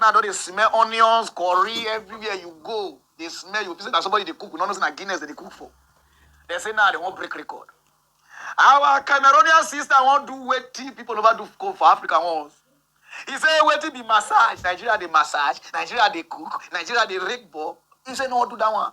Now I don dey smell onions, curry everywhere you go. They smell you. People that somebody they cook, we don't know say na Guinness that they cook for. They say now they won't break record. Our Cameroonian sister won't do wetin people never do for for Africa once. He say wetin be massage? Nigeria dey massage, Nigeria dey cook, Nigeria dey rake ball. He say no wan do that one.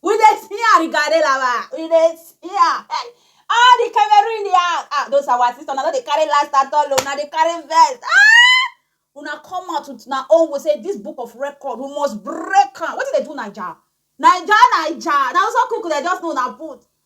We dey fear Rigarela wa. We dey fear. Hey, all the Cameroon in the house. Ah, those are our sisters. Now they carry last at all. oh. Now they carry vest. Ah! Una come out with na own we say this book of record we must break am. Wetin dey do Naija? Naija, Naija. Na also cook dem just know na put.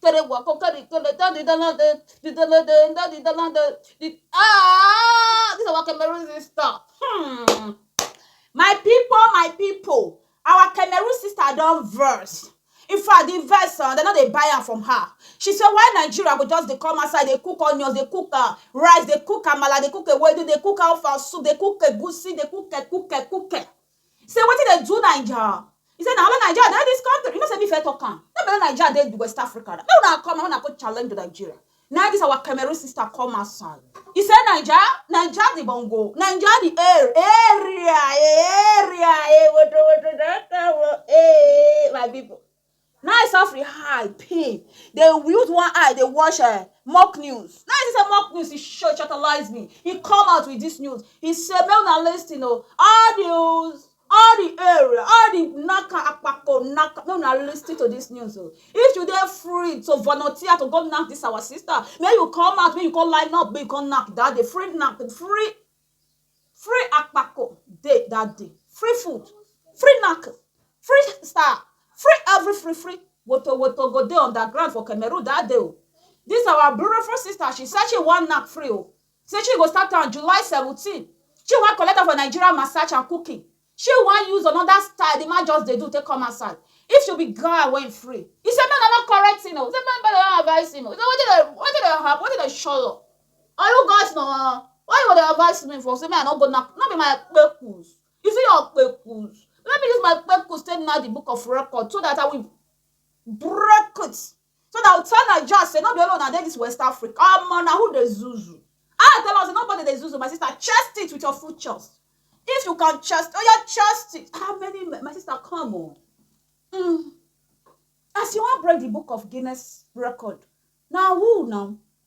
to dey work oh, carry to dey turn the dollar dey, the dollar dey, turn the dollar dey, the ah this our Cameroon sister hmm my people my people our Cameroon sister don verse in fact the verse ah dem no dey buy am from her she say why Nigeria go just dey come outside dey cook onions dey cook ah rice dey cook amala dey cook ewedu dey cook ofa soup dey cook egusi dey cook ekuke kuke Say wetin dey do naija He say na only naija dey this country You know say me first talk am No be only naija dey the west Africa Make una come make una go challenge the Nigeria Na this our Cameroon sister come outside He say naija Naija the bongo Naija the air Area eh Area eh Wodo wodo don come oh eh My people Na e sofri eye pin dey use one eye dey watch um mock news na e see say mock news e shortalize me e come out with dis news e say make una listen o all di all di area all di naka akpako naka make una listen to dis news o if you dey free to volunteer to go knack dis our sister make you come out make you come line up make you come knack dat day free knack free free akpako dey that day free food free knack free star free every free free woto woto go dey on the ground for cameroon that day o this our beautiful sister she say she wan knack free o say she go start am july seventeen she wan collect am for nigeria massage and cooking Shey u wan use another style the man just dey do take come outside if she be guy wey free he say make dem no correct him o he say make dem no advice him o he say wetin dey wetin dey happen wetin dey shele are you guys na why you go dey advice me for say make i no go nack no be my kpekus you see your kpekus let me use my kpekus take nack the book of record so that i will break it so na tell naija say no be only una dey dis west africa omo na who dey zuzu i tell am say nobody dey zuzu my sister chest it with your full chest if you can chest oya oh chest it how many my sister come o oh. mm. as you wan break the book of guinness record na who na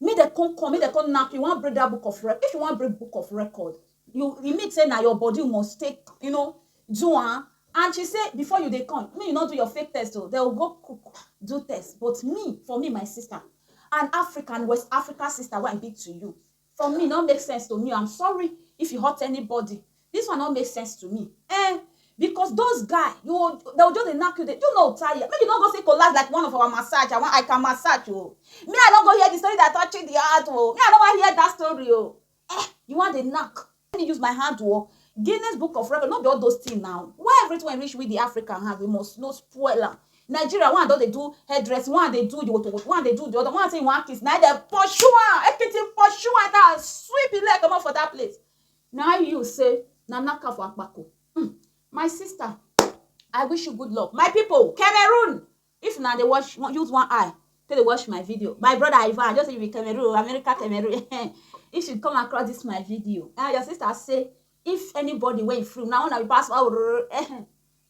Make dem come come, make dem come nack you, you wan break that book of record, if you wan break book of record, you, e mean say na your body you must take, you know, do am and she say before you dey come, make you no do your fake test o, dem go go cook do test but me, for me my sister, an African, West African sister wey I be to you, for me e no make sense to me o, I'm sorry if e hurt anybody, This one no make sense to me eh because those guy you will, they will just dey knack you dey you no tire make you no go say collapse like one of our massage i wan i can massage o me i no go hear the story that touch the heart o me i no wan hear that story o eh you wan dey knack let me use my hand o Guinness Book of Record no be all those things now why everything wey reach we the African hand we must no spoil am Nigeria one don dey do hairdress one dey do the wotowoto one dey do the other one say you wan kiss na dem pursue am ekiti pursue am na sweep him leg comot for that place na you say na naka for akpako hmm. my sister i wish you good luck my people cameroon if na dey watch use one eye take dey watch my video my brother ivan i just say you be cameroon america cameroon if you come across this my video ah your sister say if anybody wey free na una be pass oh,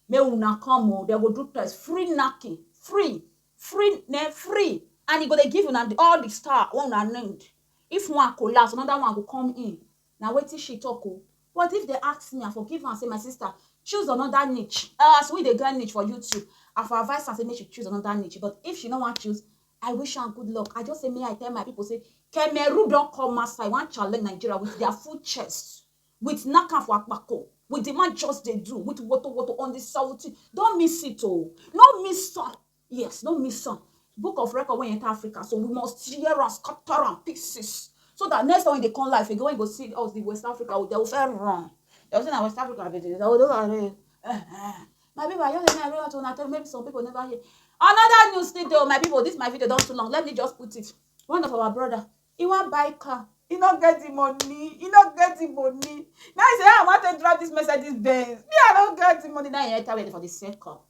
make una come o oh, dem go do test free knacking free free na free and e go dey give una all the star wey una need If one collapse, another one go come in, na wetin she talk o. But if dem ask me, I for give am say, my sister, choose another niche. As we dey get niche for YouTube, I for advise am say make she choose another niche. But if she no wan choose, I wish am good luck. I just say make I tell my people say, Cameroon don come outside wan challenge Nigeria with their full chest, with knack am for akpako, with the man just dey do, with wotowoto on the salty. Don't miss it o. No miss am. Yes, no miss am. Book of record wey enter Africa, so we must tear am, scatter am pieces. So that next time when they come life again, when you go see us, the West Africa, they will first run. They will say, na West Africa be this. They will do like this. Eh, eh. My people, I just hear to una tell maybe some people never hear. Another news still though, my people, this my video don too long. Let me just put it. One of our brother, he wan buy car. He no get the money. He no get the money. Now he say, "Ah, I want to drive this Mercedes Benz. Me, I no get the money. Now he enter where for the same car.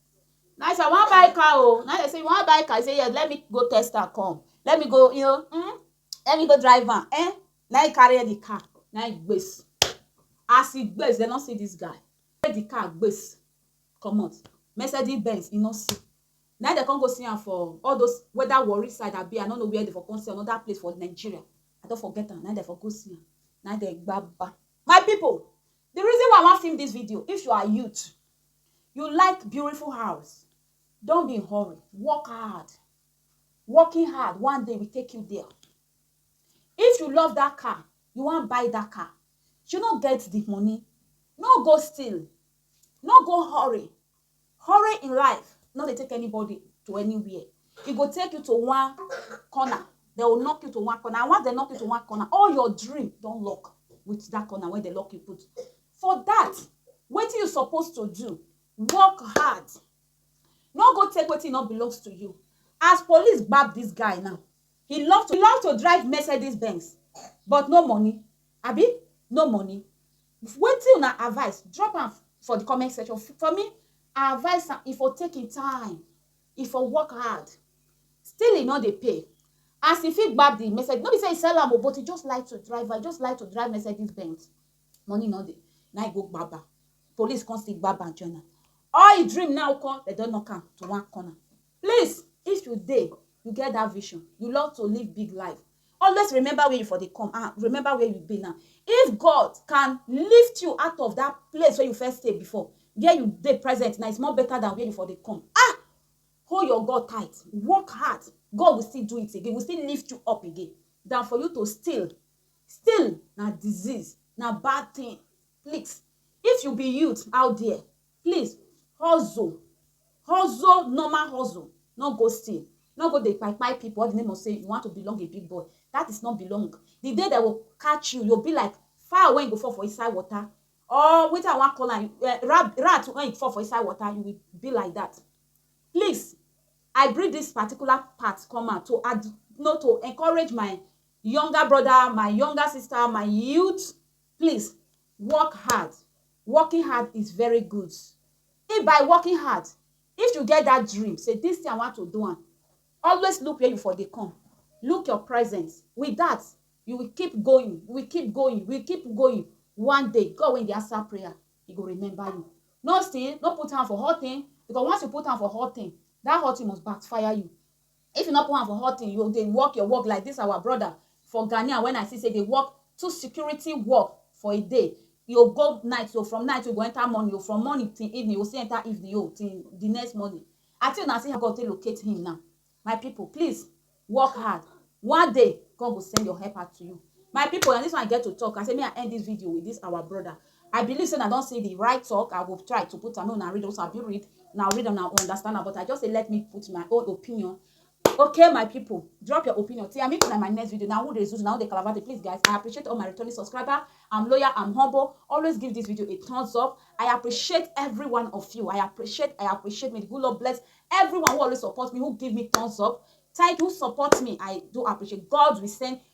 Now if I wan buy car oh, now they say you wan buy car, you say yes, let me go test am come, let me go, you know, mm, let me go drive am, eh? Now he carry the car, now he gbes. As he gbes, they not see this guy. Take the car gbes, come out. Mercedes Benz, he not see. Now they can't go see am for all those weather worry side I be. I don't know where they for come see another place for Nigeria. I don't forget am. Now they for go see am. Now they gbaba. My people, the reason why I want film this video, if you are youth, You like beautiful house, don't be in hurry, work hard. Working hard, one day will take you there. If you love that car, you wan buy that car, you no get the money, no go steal, no go hurry. Hurry in life no dey take anybody to anywhere. E go take you to one corner, they will knock you to one corner and once they knock you to one corner, all your dream don lock with that corner wey they lock you put. For that, wetin you suppose to do, work hard. No go take wetin no belongs to you. As police gbab this guy now, he love to, he love to drive Mercedes Benz but no money, abi no money. Wetin una advice, drop am for the comment section. For me, I advise am, e for take im time, e for work hard. Still e no dey pay. As e fit gbab the Mercedes, no be say e sell am o, but e just like to drive am, e just like to drive Mercedes Benz. money no dey na e go gbab am police come still gbab am join am all him dream now nko dem don knock am to one corner please if you dey you get that vision you love to live big life always remember where you for dey come and remember where you be now if God can lift you out of that place where you first stay before where you dey present now is more better than where you for dey come ah hold your God tight work hard God will still do it again will still lift you up again than for you to still Still na disease, na bad thing. Please, if you be youth out there, please hustle, hustle normal hustle, no go steal, no go dey kpai kpai people all the name of say you want to belong a big boy, that is not belong. The day they will catch you, you go be like fowl wey go fall for inside water or wetin I wan call am um rat wey fall for inside water, you will be like that. Please, I bring this particular part come out to add, no to encourage my younger brother, my younger sister, my youth, please work hard. Working hard is very good. If by working hard, if you get that dream, say this thing I want to do, am, always look where you for dey come. Look your present. With that, you will keep going, you will keep going, you will keep going. One day, God wey dey answer prayer, He go remember you. No sin, no put hand for hot thing, because once you put hand for hot thing, that hot thing must backfire you. If you no put hand for hot thing you dey work your work like this our brother for Ghanea when I see say dey work two security work for a day e o go night o from night o e go enter morning o from morning till evening e go still enter evening o till the next morning I think una see how God take locate him now my people please work hard one day God go send your helper to you my people na this one I get to talk I say make I end this video with this our brother I believe say una don see the right talk, I go try to put am make una read am, una fit read, una read am una understand am but I just say let me put my own opinion Okay my people, drop your opinion till I meet una in my next video, na who dey zuzu, na who dey kalabate please guys I appreciate all my returning subscriber, I'm loyal, I'm humble, always give this video a thumbs up, I appreciate every one of you, I appreciate, I appreciate, may the good Lord bless everyone who always support me, who give me thumbs up, thank you, who support me, I do appreciate, God will send